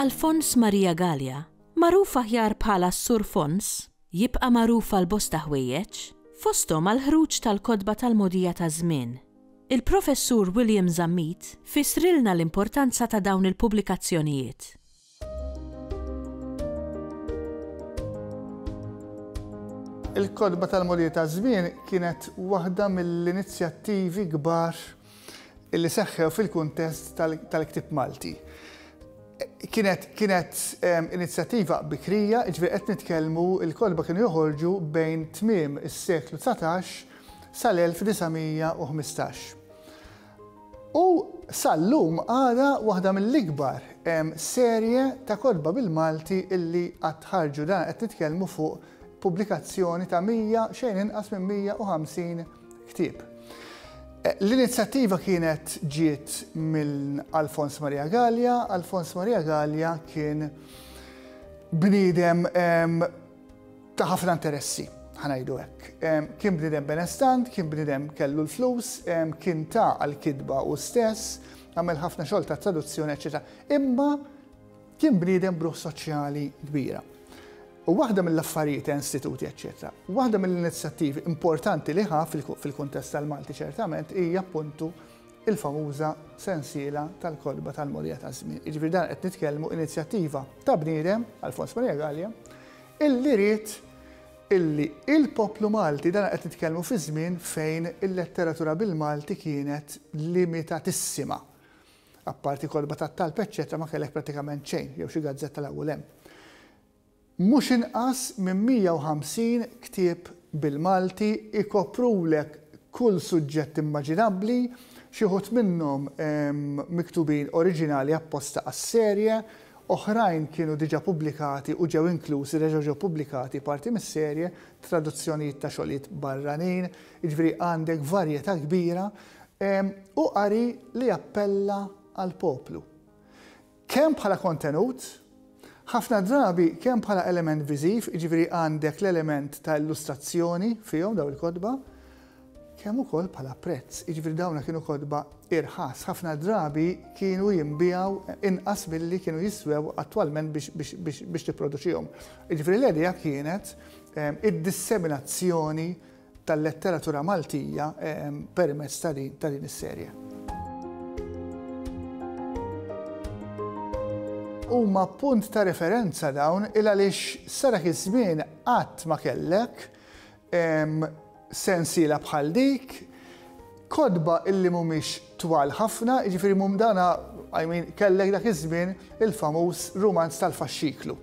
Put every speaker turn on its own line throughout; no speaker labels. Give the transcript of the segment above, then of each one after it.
Alfons Maria Gallia, magħruf aħjar bħala Sur Fons, jibqa' magħruf għal bosta ħwejjeġ, fosthom għall-ħruġ tal-kotba tal-mogħdija taż-żmien, Il-Professur William Zammit fissrilna l-importanza ta' dawn il-pubblikazzjonijiet. Il-Kotba tal-Mulej taż-Żmien kienet waħda mill-inizjattivi kbar li seħħew fil-kuntest tal-ktieb Malti. Kienet kienet ehm, inizjattiva bikrija, ġifieri qed nitkellmu il-kotba kienu joħorġu bejn tmiem is-seklu 19 sal-1915. U sal-lum għadha waħda mill-ikbar serje ta' kotba bil-Malti li qatt ħarġu, dan qed nitkellmu fuq pubblikazzjoni ta' 100, xejn inqas minn 150 ktieb. L-inizjattiva kienet ġiet minn Alfons Maria Gallia, Alfons Maria Gallia kien bniedem ta' ħafna interessi, ħanajdu hekk. Kien bnidem benestant, kien bnidem kellu l-flus, kien ta' għal-kidba u stess, għamel ħafna xogħol ta' traduzzjoni, eċetera. Imma kien bniedem bruħ soċjali kbira. U waħda mill-affarijiet ta' istituti, eċetera. Waħda mill-inizjattivi importanti li ħa fil-kuntest tal-Malti ċertament hija appuntu il-famuża sensiela tal-kotba tal-mogħdija taż-żmien. Jiġifieri dan qed nitkellmu inizjattiva ta' bniedem, Alfons Maria Galea, illi ried illi il-poplu Malti, dan qed nitkellmu fi żmien fejn il-letteratura bil-Malti kienet limitatissima. Apparti kotba tat-talb eċċetera ma kellek prattikament xejn, jew xi gazzetta l-ewwel hemm. Mhux inqas minn 150 ktieb bil-Malti jkoprulek kull suġġett immaġinabbli, xi wħud minnhom miktubin oriġinali apposta għas-serje, oħrajn kienu diġà pubblikati u ġew inklużi, reġgħu ġew pubblikati parti mis-serje, traduzzjonijiet ta' xogħlijiet barranin, jiġifieri għandek varjetà kbira u qari li jappella għall-poplu. Kemm bħala kontenut, ħafna drabi kemm bħala element viżiv, jiġifieri għandek l-element ta' illustrazzjoni fihom dawn il-kotba, kemm ukoll bħala prezz, jiġifieri dawn kienu kotba irħas, ħafna drabi kienu jinbiegħu inqas milli kienu jiswew attwalment biex tipproduċihom. Jiġifieri l-idea kienet id-disseminazzjoni tal-letteratura Maltija permezz ta' din is-serje. Huma punt ta' referenza dawn il-għaliex sa dak iż-żmien qatt ma kellek sensiela bħal dik, kotba illi mhumiex twal ħafna, jiġifieri mhum dana, I mean, kellek dak iż-żmien il-famuż rumanz tal-faxxiklu.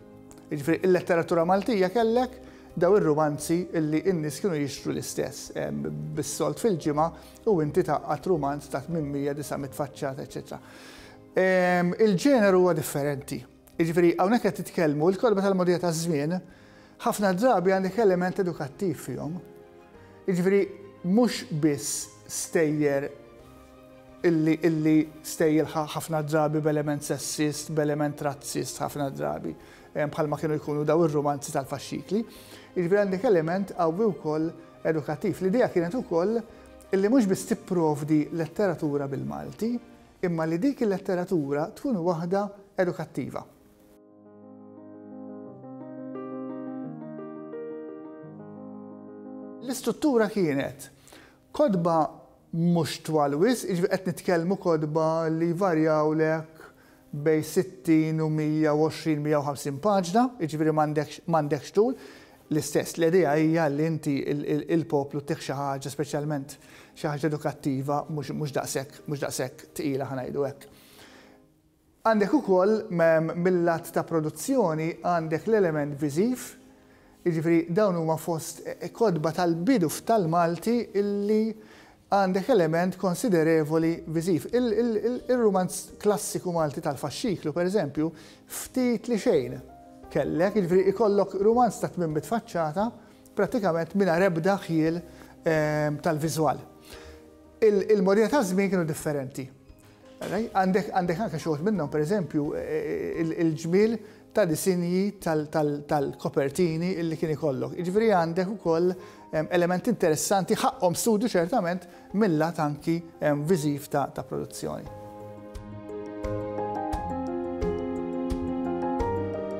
Jiġifieri l-letteratura Maltija kellek Dawn ir-rumanzi li n-nies kienu jixtru l-istess, bis-sold fil-ġimgħa u inti tgħaqqad rumanz ta' 800, 900 faċċata, eċċetera. Il-ġeneru huwa differenti. Jiġifieri hawnhekk qed titkellmu, il-kotba tal-mogħdija taż-żmien ħafna drabi għandek element edukattiv fihom. Jiġifieri mhux biss stejjer illi stejjer ħafna drabi b'element sessist, b'element razzist ħafna drabi. bħalma kienu jkunu dawn ir-rumanzi tal-faxxikli. Jiġifieri għandek element qawwi wkoll edukattiv. L-idea kienet ukoll illi mhux biss tipprovdi letteratura bil-Malti, imma li dik il-letteratura tkun waħda edukattiva. L-istruttura kienet Kotba mhux twal wisq, jiġifieri qed nitkellmu kotba li jvarjawlek bejn 60 u 120, 150 paġna, jiġifieri m'għandekx tul. L-istess, l-idea hija li inti l-poplu tih xi ħaġa speċjalment xi ħaġa edukattiva mhux daqshekk tqila ħa ngħidu hekk. Għandek ukoll mil-lat ta' produzzjoni għandek l-element viżiv, jiġifieri dawn huma fost kotba tal-bidu f'tal-Malti li għandek element konsiderevoli viżiv. Ir-rumanz klassiku Malti tal-faxxiklu, per eżempju, ftit li xejn kellek, jiġifieri jkollok rumanz ta' tmien mitt faċċata prattikament mingħajr ebda ħjiel tal-viżwal. Il-modijiet taż-żmien kienu differenti. Għandek anke xi wħud minnhom, pereżempju, il-ġmiel ta' disinji tal-kopertini li kien ikollok. Jiġifieri għandek ukoll elementi interessanti ħaqqhom studju ċertament mil-lat anki viżiv ta' produzzjoni.